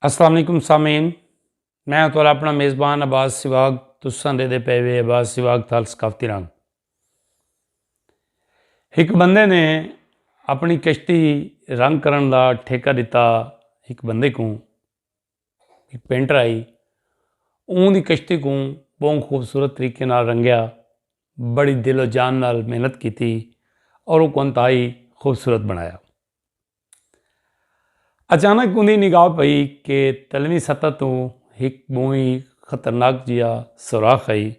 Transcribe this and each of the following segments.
السلام علیکم سامعین میں ہوں تھوڑا اپنا میزبان عباس سواگ تساں دے دے پے وے عباس سواگ تھال ثقافتی رنگ ایک بندے نے اپنی کشتی رنگ کرن دا ٹھیکہ دیتا ایک بندے کو ایک پینٹر آئی اون دی کشتی کو بہت خوبصورت طریقے نال رنگیا بڑی دل و جان نال محنت کیتی اور وہ کو انتہائی خوبصورت بنایا اچانک اوندی نگاہ پئی کہ تلویں سطح توں ہک بہوئی خطرناک جیا سوراخ ہئی۔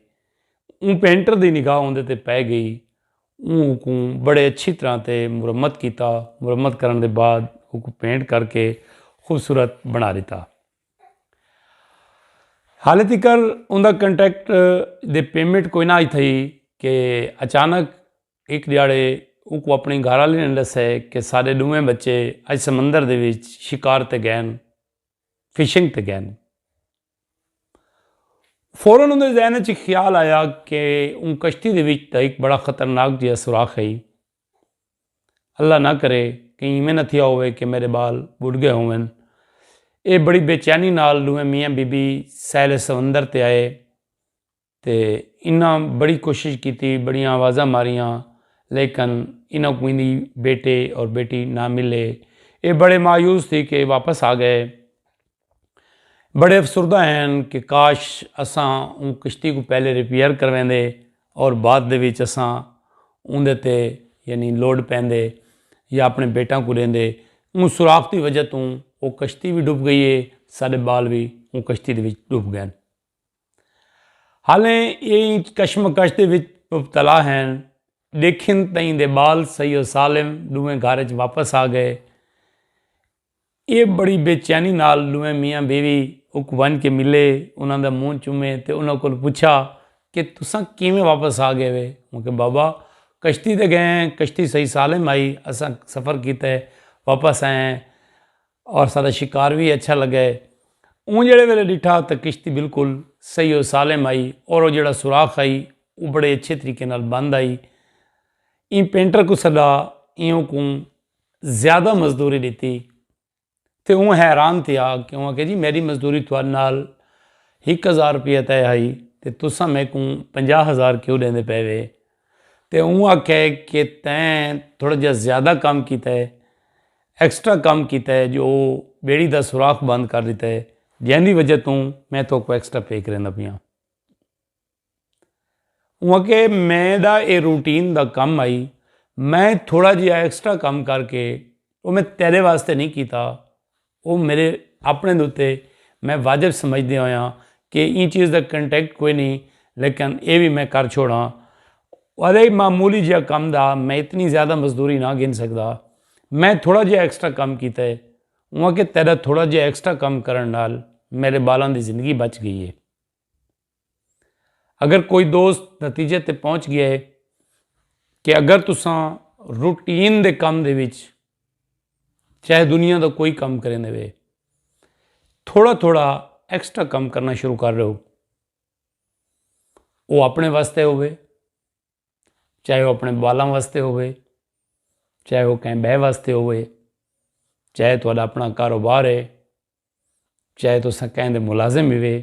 اوں پینٹر دی نگاہ اوندے تے پئے گئی۔ اوں اوکوں بڑے اچھی طرح تے مرمت کیتا۔ مرمت کرݨ دے بعد اوکوں پینٹ کر کے خوبصورت بݨا ݙتا۔ حالے تیکر اوندا کنٹریکٹ دی پیمنٹ کوئناں ہئی تھئی کہ اچانک ہک ڈیہاڑے اونکوں اپنڑی گھر آلی نے ڈسے کہ ساڈے ڈوہیں بچے اج سمندر دے وچ شکار تے گئے ہن، فشنگ تے گئے ہن۔ فورا اوندے ذہن اچ ہک خیال آیا کہ اوں کشتی دے وچ تاں ہک بڑا خطرناک جیہا سوراخ ہئی۔ اللہ نہ کرے کہیں ایویں نہ تھیا ہووے کہ میڈے بال بڈ گئے ہوون۔ ایہ بڑی بے چینی نال ڈوہیں میاں بی بی ساحل سمندر تے آئے۔ تے انہاں بڑی کوشش کیتی، بڑیاں آوازاں ماریاں لیکن انہاں کوں ایندی بیٹے اور بیٹی نہ ملے۔ ایہ بڑے مایوس تھی کے واپس آ گئے۔ بڑے افسردہ ہن کہ کاش اساں اوں کشتی کوں پہلے ریپیئر کرویندے اور بعد دے وچ اساں اوندے تے یعنی لوڈ پیندے یا اپنے بیٹاں کوں ڈیندے۔ اوں سوراخ دی وجہ توں او کشتی وی ڈوب گئی ہے، ساڈے بال وی اوں کشتی دے وچ ڈوب گئن۔ حالیں اے انچ کشمکش دے وچ مبتلا ہین ڈیکھن تئیں دے بال سید و سالم ڈوہیں گھر اچ واپس آ گئے اے بڑی بے چینی نال ڈوہیں میاں بیوی اک ونج کے ملے انہاں دا منہ چومے تے انہاں کول پچھا کہ تساں کیویں واپس آ گئے وے ہوں کہ بابا کشتی تے گئے ہیں کشتی سید سالم آئی اساں سفر کیتے واپس آئے ہیں اور ساڈا شکار وی اچھا لگا ہے۔ اوں جیڑھے ویلے ڈٹھا تاں کشتی بالکل صحیح و سالم آئی اور او جیڑھا سوراخ آئی او بڑے اچھے طریقے نال بند آئی۔ ایں پینٹر کوں سڈا ایوں کوں زیادہ مزدوری ڈتی تے اوں حیران تھیا کہ اوں آکھیا جی میڈی مزدوری تھوڈے نال ہک ہزار روپیہ طے ہائی تے تساں میکوں پنجاہ ہزار کیوں ڈیندے پئے وے۔ تے اوں آکھیا ہے کہ تیں تھوڑا جیہا زیادہ کم کیتا ہے، ایکسٹرا کم کیتا ہے جو بیڑی دا سوراخ بند کر ݙتا ہے جیں دی وجہ توں میں تہاکوں ایکسٹرا پے کریندا پیاں۔ اوں آکھیا ہے میݙا ایہ روٹین دا کم ہئی، میں تھوڑا جیہا ایکسٹرا کم کر کے او میں تیݙے واسطے نئیں کیتا، او میڈے اپݨے دے اتے میں واجب سمجھدے ہویاں کہ ایں چیز دا کنٹیکٹ کوئی نی لیکن اے وی میں کر چھوڑاں ولے معمولی جیہا کم دا میں اتنی زیادہ مزدوری نہ گھن سگدا میں تھوڑا جیہا ایکسٹرا کم کیتا ہے اوں آکھیا تیڈا تھوڑا جیہا ایکسٹرا کم کرݨ نال میڈے بالاں دی زندگی بچ گئی ہے۔ اگر کوئی دوست نتیجے تے پہنچ گیا ہے کہ اگر تساں روٹین دے کم دے وچ چاہے دنیا دا کوئی کم کریں دے وے تھوڑا تھوڑا ایکسٹرا کم کرنا شروع کر رہے ہو وہ اپنے واسطے ہوئے چاہے وہ اپنے بالاں واسطے ہوئے چاہے وہ کہیں بے واسطے ہوئے چاہے تو اپنا کاروبار ہے چاہے تو سکیں دے ملازم ہوئے